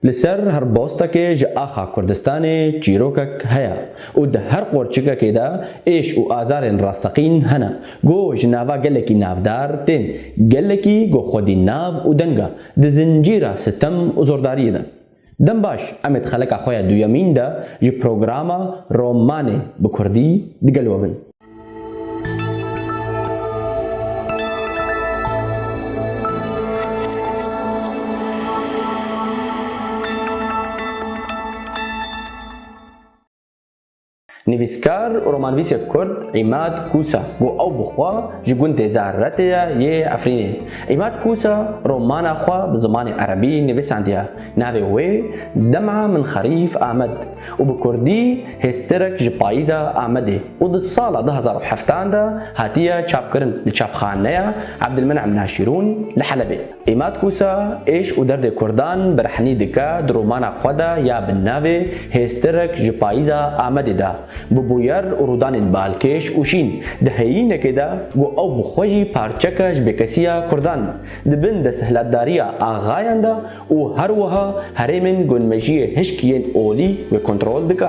Li ser her bostekê ji axa Kurdistanê çîrokek heye û di her qorçikekê de êş û azarên rasteqîn hene ku ji nava gelekî navdar tên, gelekî ku xwedî nav û deng e di zincîra sitem û zordariyê de. Dem baş, em ê di xeleka xwe ya duyemîn de ji programa Romanê bi kurdî di gel we bin. Nivîskar û romanvîsê kurd Îmad Kûsa ku ew bi xwe ji gundê Zahrretê ye yê Efrînê. Îmad Kûsa romana xwe bi zimanê erebî nivîsandiye. Navê wê Dema min xerîf Amed û bi kurdî Hêstirek ji Payîza Amedê û di sala du hezar û heft an de hatiye çapkirin li çapxaneya Ebdilminim Naşîrûn li Helebê. Îmad Kûsa, êş û derdê kurdan bi rehnî dike, di romana xwe de ya bi navê Hêstirek ji payîza Amedê de, bi bûyer û rûdanên balkêş û şîn, di heyînekê de ku ew bi xwe jî parçeke ji bêkesîya kurdan, di bin desthilatdariya axayan de û her wiha herêmên ku nimejiyê hişk yên olî wê kontrol dike.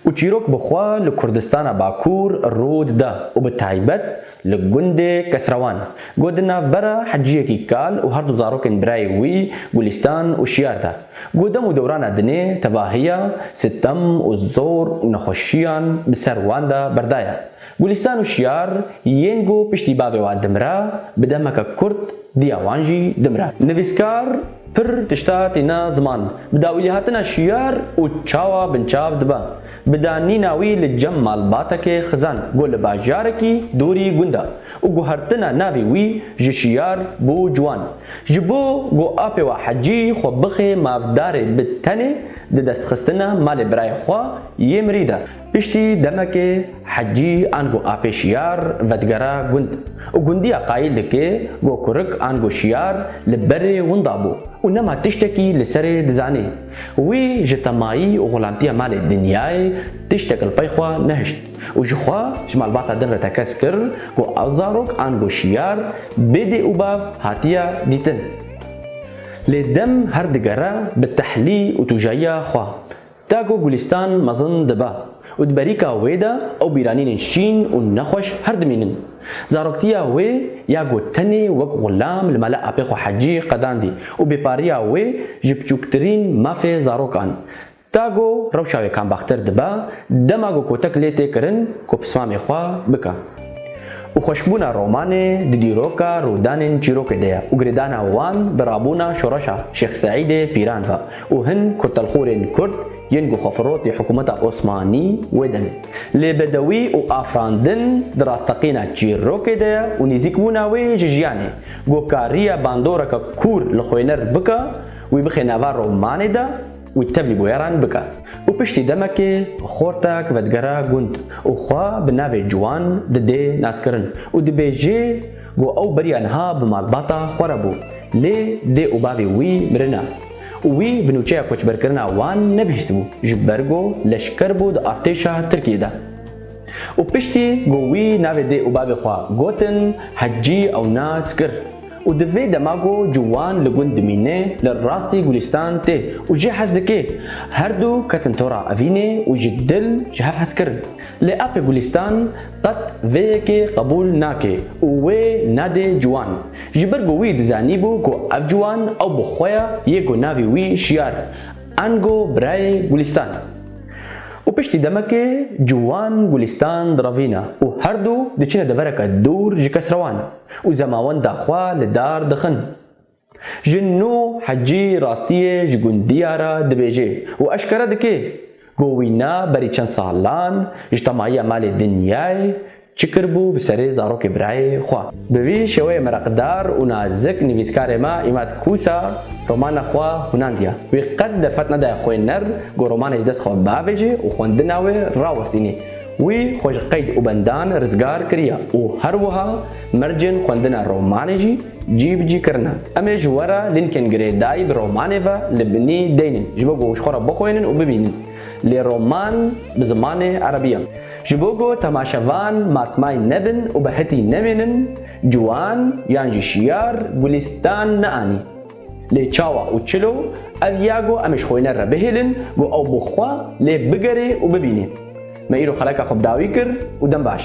Û çîrok bi xwe li Kurdistana Bakur rû dide û bi taybet Li gundê Kesrewan, got di navbera Heciyekî Kal û her du zarokên birayê wî Gulîstan û Şiyar de, got dem û dewrana dinê tevahiya, sitem û zor û nexweşiyan bi ser wan de berdaya. Gulîstan û Şiyar yên ku piştî bavê wan dimire, bi demeke kurt diya wan jî dimire. Nivîskar pir tişta tîna ziman, bi dawîlîhatina Şiyar û çawa binçav dibe. Bi danîna wî li cem malbatekê xizan ku li bajarekî dûrî gund e û guhertina navê wî ji şiyar bû ciwan. Ji bo ku apê we Hecî xwe bixê mafdarê bi tenê di destxistina malê birayê xwe yê mirî de. Piştî demekê Hecî an ku apê şiyar vedigera gund û gundiya qayîl dike ku kurik an ku şiyar li berê winda bû û nema tiştekî li serê dizanê. Wî ji temayî û xulamtiya malê Dinyayê tiştek li pey xwe nehişt û ji xwe ji malbata din re tekez kir ku ew zarok an ku şiyar bê dê û bav hatiye dîtin. Lê dem her digere bi tehlî û tûjayiya xwe. Te ku Gulîstan mezin dibe Û di berîka wê de ew bîranînên şîn û nexweş her dimînin. Zaroktiya wê ya ku tenê wek xulam li mala apê xwe Hecî qedandî û bêpariya wê ji piçûktirîn mafê zarokan ta ku rewşa wê kambaxtir dibe dema ku kotek lê tê kirin ku pismamê xwe bike. Û xweşbûna romanê di dîroka rûdanên çîrokê de ye û girêdana wan bi rabûna şoreşa Şêx Seîdê Pîran ve û hin kurtelxûrên kurd, Yên ku xwefirotî hikûmeta Osmanî wê demê lê bedewî û afirandin di rasteqîna çîrokê de ye û nêzîkbûna wê ji jiyanê ku kariye bandoreke kûr li xwêner bike, wî bixe nava romanê de û tevlî bûyeran bike û piştî demekê xortek vedigere gund û xwe bi navê ciwan didê naskirin û dibêjê ku ew beriya niha bi malbata xwe re bû lê dê û bavê wî mirine. û wî bi nûçeya koçberkirina wan nebihîstibû ji ber ku leşker bû di artêşa Tirkiyê de û piştî ku wî navê dê û bavê xwe gotin Hecî ew nas kir û di vê dema ku ciwan li gund dimîne li rastî Gulîstan tê û jê hez dike her du ketin tora evînê û ji dil ji hev hez kirin lê apê Gulîstan qet vê yekê qebûl nake û wê nedê ciwan. Ji ber ku wî dizanîbû ku ev ciwan ew bi xwe ya yê ku navê wî Şiyar Ango birayê Gulîstan e. Û piştî demekê ciwan Gulîstan direvîne û her du diçine devereke dûr ji kesrewan û zemawenda xwe li dar dixin. Ji nû Hecî rastiyê ji gundiya re dibêje û eşkere dike ku wî ne berî çend salan ji temayiya malê dinyayê Çi kiribû bi serê zarokê birayê xwe? Bi vî şêweyê mereqdar û nazik nivîskarê me Îmad Kûsa romana xwe hûnandiye. Wî qet derfet nedaye xwêner ku romanê ji dest xwe biavêje û xwendina wê rawestîne. Wî xwe ji qeyd û bendan rizgar kiriye û her wiha mercên xwendina romanê jî cî bi cî kirine. Em ê ji we re lînkên girêdayî bi romanê ve li binî deynin ji bo ku ji xwe re bixwênin û bibînin. Lê roman bi zimanê erebî ye. Ji bo ku temaşevan matmay nebin û bi hetî nemênin, ciwan yan jî şiyar Gulîstan neanî. Lê çawa û çilo ev ya ku em ji xwêne re bihêlin ku ew bi xwe lê bigerê û bibînê. Me îro xeleka xwe bi dawî kir û dem baş.